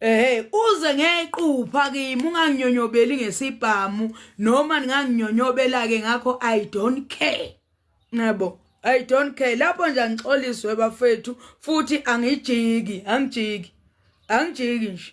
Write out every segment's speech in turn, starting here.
Ehhe uze ngequpha kimi unganginyonyobeli ngesibhamu noma ninganginyonyobela ke ngakho I don't care. Nabo I don't care lapho nje angixoliswe bafethu futhi angijiki angijiki angijiki nje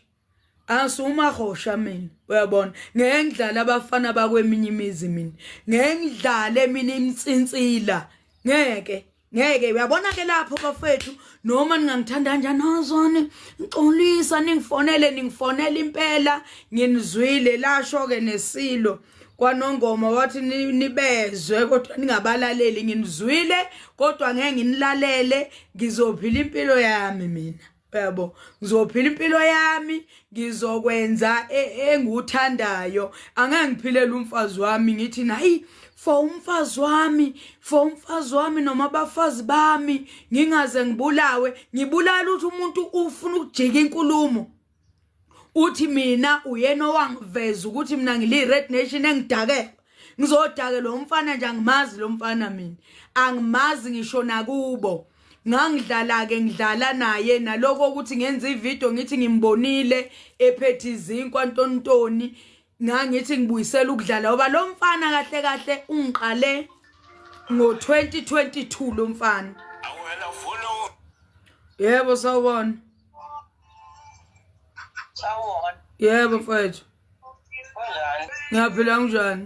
asuma hosha mina uyabona ngengidlala abafana bakweminye imizi mina ngengidlale mina imsinsila ngeke ngeke uyabona ke lapho bafethu noma ningangithanda kanjani azone ngixolisa ningifonele ningifonela impela nginizwile lasho ke nesilo kwanongoma wathi nibezwe kodwa ningabalaleli nginizwile kodwa ngeke nginilalele ngizophila impilo yami mina yabo ngizophila impilo yami ngizokwenza e, enguthandayo angeke ngiphilela umfazi wami ngithi nayi for umfazi wami for umfazi wami noma abafazi bami ngingaze ngibulawe ngibulala ukuthi umuntu ufuna ukujika inkulumo uthi mina uyena owangiveza ukuthi mina ngili-red nation engidakelwa ngizodake lo mfana nje angimazi lo mfana mina angimazi ngisho nakubo ngangidlala-ke ngidlala naye naloko ukuthi ngenza ividiyo ngithi ngimbonile ephethe izinkwa ntontoni ngangithi ngibuyisela ukudlala ngoba lo mfana kahle kahle ungiqale ngo-2022 lo mfana yebo sawubona sawubona yebo mfethu ngiyaphila kunjani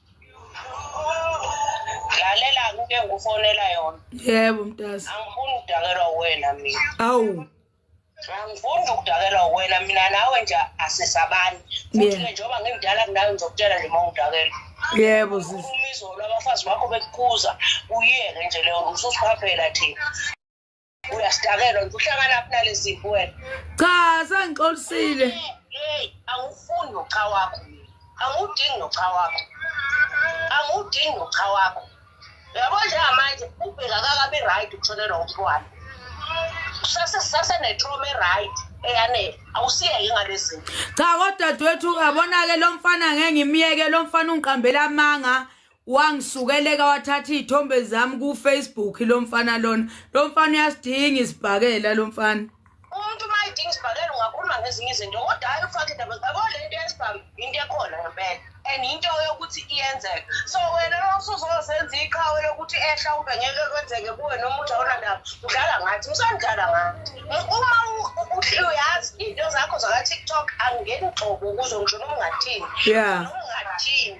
lalela kuke ngufonela yona yebo mntazi angifuni ukudakelwa wena mina awu angifuni ukudakelwa wena mina nawe nje asisabani futhi ke njengoba ngimdala kunawe ngizokutshela nje uma ungidakelwa yebo sisumizolo abafazi bakho bekukuza uyeke nje leyo ususiphaphela thina uyasidakelwa nje uhlanganaphi naleziphi wena cha sengixolisile awufuni nocha wakho angudingi nocha wakho angudingi nocha wakho yabo njengamanje ubheka kakabi right ukutholelwa umntwana sasenetroma eright eyanele awusiyeke ngalezinto cha kodadewethu uyabona-ke lo mfana ngeke ngimyeke lo mfana ungiqambela amanga wangisukeleka wathatha izithombe zami ku Facebook lo mfana lona lo mfana uyasidinga isibhakela lo mfana umuntu uma idinga isibhakela ungakhuluma ngezinye izinto kodwa hayi ufake indaba zabo le nto yesibhamu into ekhona ngempela and into yokuthi iyenzeka so wena losuzozenza iqhawe lokuthi ehla ube ngeke kwenzeke kuwe noma uthi awunandaba udlala ngathi usandlala ngathi uma uyazi iy'nto zakho zaka-tiktok angeni gxobo kuzo ngisho noma ungathini noma ungathini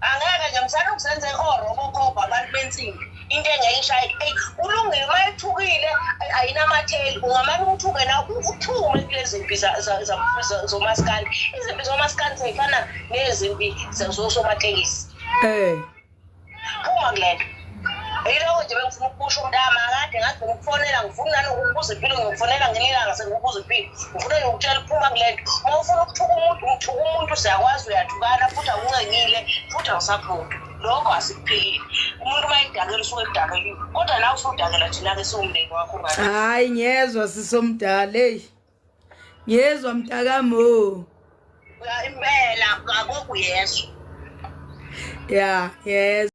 angeke nje msana ukuzenza ihoro obokhobha abantu bensimbi into engeyishayi eyi ulungile uma ethukile ayinamatheli ungamane umthuke na uthume kule zimpi zomasikandi izimpi zomasikandi zifana nezimpi zosomatekisi um phuma kule nto Yiloko nje bengifuna ukusho umntama akade ngathi ngikufonela ngifuna nani ukubuza impilo ngikufonela ngenilanga sengikubuza impilo ngifuna ngikutshela uphuma kule nto uma ufuna ukuthuka umuntu umthuka umuntu siyakwazi uyathukana futhi awuncengile futhi awusaphunti lokho asikuphilile umuntu uma edakela usuke edakeliwe kodwa nawe usudakela thina-ke siwumndeni wakho ngathi hayi ngiyezwa sisomdala eyi ngiyezwa mntakamo impela akokuyezwa ya ngiyezwa